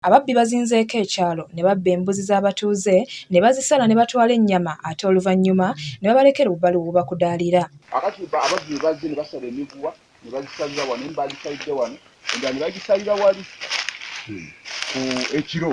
Ababbi bazinzeeko ekyalo ne babba embuzi z'abatuuze ne bazisala ne batwala ennyama ate oluvannyuma ne babalekera obubalubu bubakudaalira. Kaakati ababbi bwe bazze ne basala emiguwa ne bagisalira wano, emu baagisalidde wano endala ne bagisalira wali ku ekiro.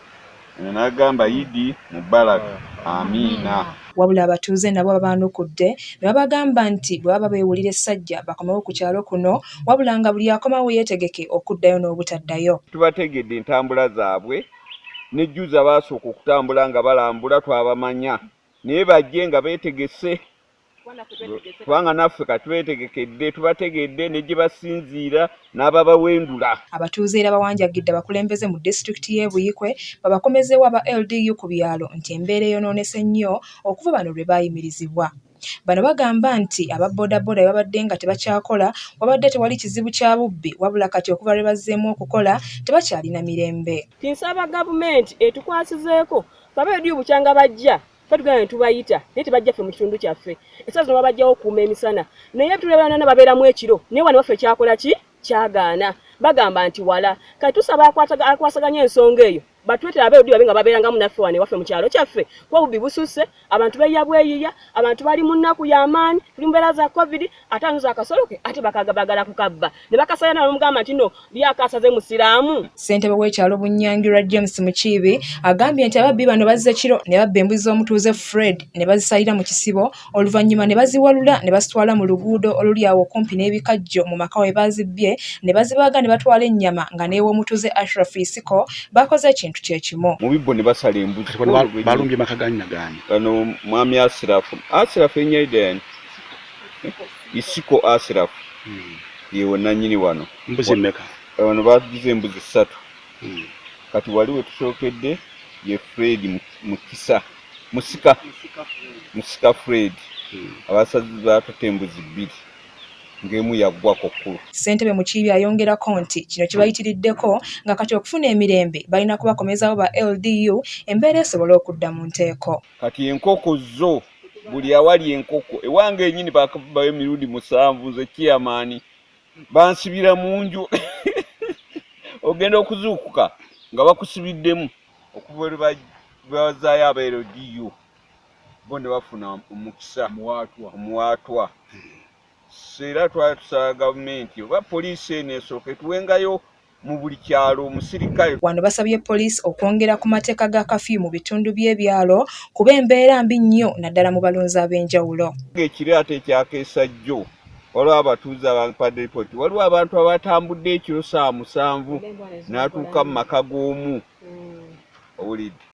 Ono n'agamba Idi Mubarak. Amiina. Wabula abatuuze nabo babaanukudde ne babagamba nti bwe baba beewulira essajja bakomewo ku kyalo kuno wabula nga buli akomawo yeetegeke okuddayo n'obutaddayo. Tubategedde entambula zaabwe ne jjuza baasooka okutambula nga balambula twabamanya naye bajje nga beetegese kubanga naffe katwetegekedde tubategedde ne gye basinziira n'ababawendula abatuuze era bawanjagidde abakulembeze mu disitulikiti y'e Buyikwe babakomezeewo aba LDU ku byalo nti embeera eyonoonese nnyo okuva bano lwe baayimirizibwa bano bagamba nti aba bodaboda babadde nga tebakyakola wabadde tewali kizibu kya bubbi wabula kati okuva lwe bazzeemu okukola tebakyalina mirembe kinsaba gavumenti etukwasizeeko babeediyo bukyanga bajja fe tugana netubayita naye tebajja ffe mu kitundu kyaffe esaa zino babajjawo okuuma emisana naye tulebanana babeeramu ekiro naye wano waffe kyakola ki kyagaana bagamba nti wala kati tusaba akwasaganya ensonga eyo batwetera abeerudi babe nga babeerangamu naffe wano ewaffe mu kyalo kyaffe kuba bubbi bususse abantu beeya bweyiya abantu bali mu nnaku y'amaanyi tuli mu mbeera za covid ate anuza akasolo ke ate bakaga bagala kukabba ne bakasala na omugamba nti no lyakasaze musiraamu ssentebe w'ekyalo bunyangirwa james mukiibi agambye nti ababbi bano bazze kiro ne babba embuzi z'omutuuze fred ne bazisalira mu kisibo oluvannyuma ne baziwalula ne bazitwala mu luguudo oluli awo okumpi n'ebikajjo mu maka we baazibbye ne bazibaaga ne batwala ennyama nga n'ew'omutuuze ashraf isiko bakoze ekintu kye kimu mu bibbo ne basala embuzi balumbye maka gannyagaanyi bano mwami asirafu asirafu enyaidani isiko asirafu hmm. yewe nanyini wano mbuzi meka eh, wano batugize embuzi satu hmm. kati wali wetusookedde ye fred mukisa musika musika fred hmm. abasazi batute embuzi bbiri ng'emu yaggwa ku kkulu ssentebe mukiibi ayongerako nti kino kibayitiriddeko nga kati okufuna emirembe balina kubakomezawo ba ldu embeera esobola okudda mu nteeko kati enkoko zo buli awali enkoko ewange enyini bakabayo mirundi musanvu nze kiyamaani bansibira mu nju ogenda okuzuukuka nga bakusibiddemu okuva eri bazaayo abeero diyo bo ne bafuna omukisa omuwaatwa era twali tusaba gavumenti oba poliisi eno esooka etuwengayo mu buli kyalo omusirikale. Wano basabye poliisi okwongera ku mateeka ga kafyu mu bitundu by'ebyalo kuba embeera mbi nnyo naddala mu balunzi ab'enjawulo. Ekiro ate ekyakeesa jjo waliwo abatuuze abampadde lipooti waliwo abantu abatambudde ekiro saa musanvu n'atuuka mu maka g'omu owulidde.